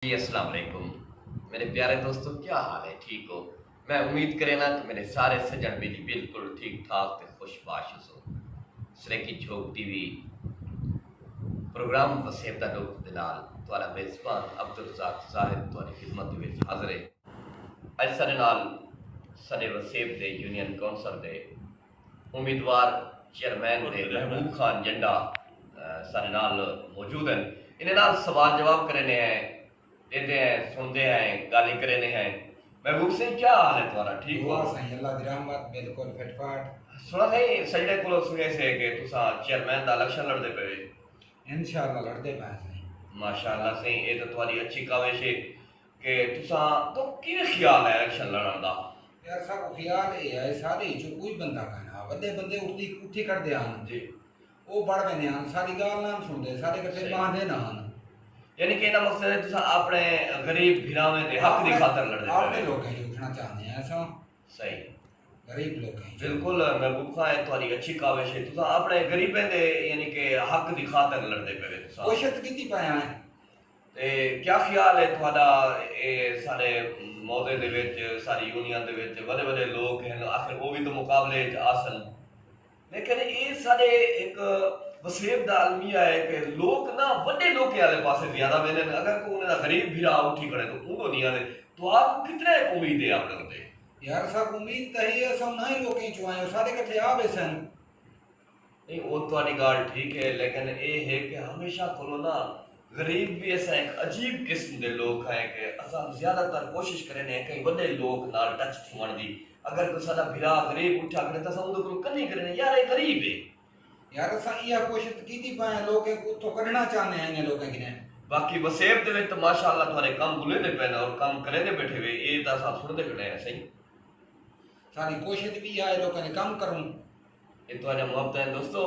جی اسلام علیکم میرے پیارے دوستو کیا حال ہے ٹھیک ہو میں امید کرینا کہ میرے سارے سجن بیلی بالکل ٹھیک ٹھاک تے خوش باش ہسو سریکی جھوک ٹی وی پروگرام وسیب دا ڈوک دلال توالا میزبان عبدالرزاق زاہد توالی خدمت وچ حاضر ہے اج سارے نال سارے وسیب دے یونین کونسل دے امیدوار چیئرمین دے محبوب خان جنڈا ساڈے نال موجود ہن انہاں نال سوال جواب کرینے ہیں ڈیندے ہیں سنڑدے ہیں گالیں کرینے ہیں محبوب سئیں کیا حال ہے تہاڈا ٹھیک ہو دعا سائیں اللہ دی رحمت بالکل فٹ فاٹ سنڑا سائیں سجڑے کولوں سنڑے سے کہ تساں چیئرمین دا الیکشن لڑدے پئے انشاءاللہ لڑدے پئے سائیں ماشاءاللہ سائیں اے تاں تہاڈی اچھی کاوش ہے کہ تساں کوں کیویں خیال ہے الیکشن لڑنڑ دا؟ یار ساکوں خیال اے ہے سارے اچوں کوئی بندہ کائنا وڈے بندے اٹھدی اٹھی کھڑدے ہن جی او بڑھ ویندے ہن ساڈی گالھ نان سنڑدے ساڈے کٹھے صحیح باہندے نہ ہن یعنی کہ ایندا مقصد ہے تساں اپنڑے غریب بھراویں دے حق دی خاطر لڑدے پئے اپنڑے وے لوکاں اچ اٹھنڑا چاہندے ہیں اساں صحیح غریب لوکاں اچ بالکل محبوب خاں اے تہاڈی اچھی کاوش ہے تساں اپنڑے غریبیں دے یعنی کہ حق دی خاطر لڑدے پئے وے تساں کوشت کیتی پئے ہیں تے کیا خیال ہے تہاڈا اے ساڈے معوضے دے وچ ساڈی یونین دے وچ وڈے وڈے لوک ہن آخر او وی تاں مقابلے اچ آسن لیکن اے ساڈے ہک وسیب دا المیہ ہے کہ لوک نہ وڈے لوکیں آلے پاسے زیادہ ویندن اگر کوئی انہاں دا غریب بھرا اٹھی کھڑے تاں اوندو نی آندے تہاکوں کتنا ہک امید ہے اپنے اتے۔ یار ساکوں امید تاں ہئی اساں انہاں ہی لوکیں چوں ہاں او ساڈے کٹھے آ بیسن۔ نہیں او تہاڈی گالھ ٹھیک ہے لیکن اے ہے کہ ہمیشہ کولوں نا غریب وی اساں ہک عجیب قسم دے لوک ہاں کہ اساں زیادہ تر کوشش کرینے ہیں کہیں وڈے لوک نال ٹچ تھیوݨ دی اگر کوئی ساڈا بھرا غریب اٹھا کھڑے تاں اساں اوندے کولوں کنی کرینے یار اے غریب ہے یار اساں ایہا کوشش تاں کیتی پئے ہیں لوکیں کوں اتھوں کڈھنا چاہندے ہیں انہیں لوکیں کنیں۔ باقی وسیب دے وچ تاں ماشاء اللہ تہاڈے کم بلیندے پئے ناں اور کم کریندے بیٹھے وے اے تاں اساں سݨدے کھڑے ہیں سئیں۔ ساڈی کوشش وی ایہا ہے لوکاں دے کم کروں اے تہاڈا محبت ہے دوستو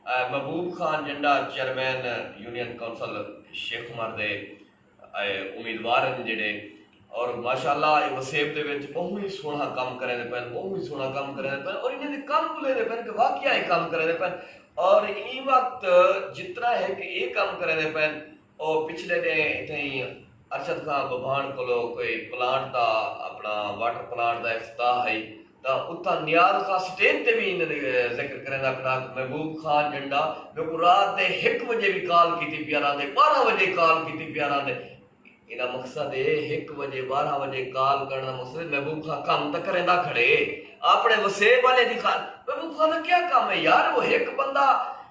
Mehboob Khan Janda chairman union council Sheikh Umar دے امیدوار ہیں جڑے اور ماشاءاللہ اے وسیب دے وچ بہت ہی سونا کم کرے دے پن بہت ہی سونا کم کرے دے پن اور انہاں دے کم بلے دے پن کہ واقعی کم کرے دے پن اور ایں وقت جتنا ہے کہ اے کم کرے دے پن او پچھلے ڈینھ اتھیں ارشد خان ببھاݨ کولو کوئی پلانٹ دا اپنا واٹر پلانٹ دا افتتاح ہئی تاں اتھاں نیاز خان سٹیج تے وی انہاں دا ذکر کریندا کھڑا کہ محبوب خان جنڈا میکوں رات دے ہک وجے وی کال کیتی پیا راہندے ٻارہاں وجے کال کیتی پیا راہندے ایندا مقصد اے ہک وجے ٻارہاں وجے کال کرݨ دا مقصد اے محبوب خان کم تاں کریندا کھڑے اپݨے وسیب آلیں دی خاطر محبوب خان دا کیا کم اے یار او ہک بندہ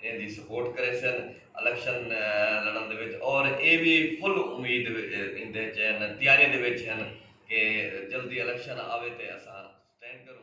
ایندی سپورٹ کریسن الیکشن لڑن دے وچ اور اے وی فل امید ایندے وچ ہن تیاری دے وچ ہن کہ جلدی الیکشن آوے تے اساں سٹینڈ کروں۔